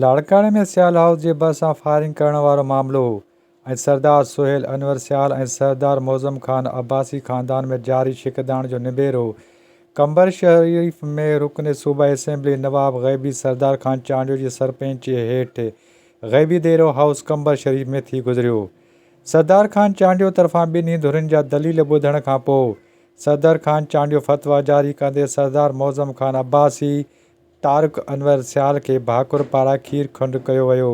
لاڙڪاڻي ۾ سيال هائوس جي ڀرسان فائرنگ ڪرڻ وارو معاملو هو ۽ سردار سهيل انور سيال ۽ سردار معظم خان عباسي خاندان ۾ جاري ڇڪتاڻ جو نبيرو هو. قمبرشريف ۾ رڪن صوبائي اسيمبلي نواب غيبي سردار خان چانڊيو جي سرپنچيء هيٺ غيبي ديرو هائوس قمبر شريف ۾ ٿي گذريو. سردار خان چانڊيو طرفان ٻنهي ڌرين جا دليل ٻڌڻ کان پوء صدر خان چانڊيو فتويٰ جاري ڪندي سردار معظم خان عباسي، طارق انور سيال کي ڀاڪر پاران کير کنڊ ڪيو ويو،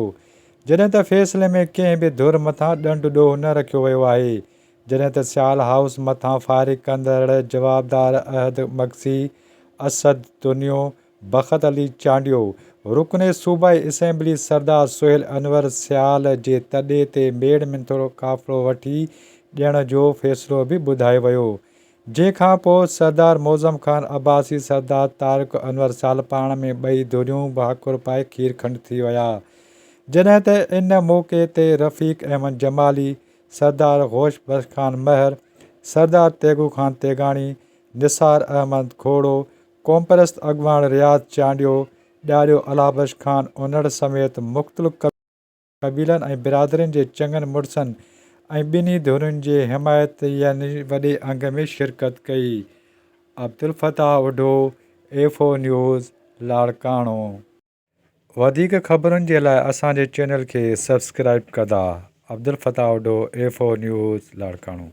جڏهن ته فيصلي ۾ ڪنهن به ڌر مٿان ڏنڊ ڏوهه نه رکيو ويو آهي، جڏهن ته سيال هائوس مٿان فائرنگ ڪندڙ جوابدار احد مگسي، اسد تنيو، بخت علي چانڊيو، رڪن صوبائي اسيمبلي سردار سهيل انور سيال جي تڏي تي ميڙ منٿورو قافلو وٺي ڏيڻ جو فيصلو به ٻڌايو ويو، جنهن کان پوء سردار معظم خان عباسي سردار طارق انور سال پاڻ ۾ ٻئي ڌريون به هاڪر پائي کير کنڊ ٿي ويا. جڏهن ته ان موقعي تي رفيق احمد جمالي، سردار غوش بخش خان مهر، سردار تيغو خان تيغاڻي، نثار احمد کوڙو، قومپرست اڳواڻ رياض چانڊيو، ڏاڏو الهه بخش خان انڙ سميت مختلف قبيلن قبيلن ۽ برادرين جي چڱن مڙسن ۽ ٻنهي ڌرين جي حمايتين وڏي انگ ۾ شرڪت ڪئي. Abdul Fattah Adho, F O news, Larkana. وڌيڪ خبرن جي لاء اسان جي چينل کي سبسڪرائيب ڪدا. Abdul Fattah Adho, F O news, Larkana.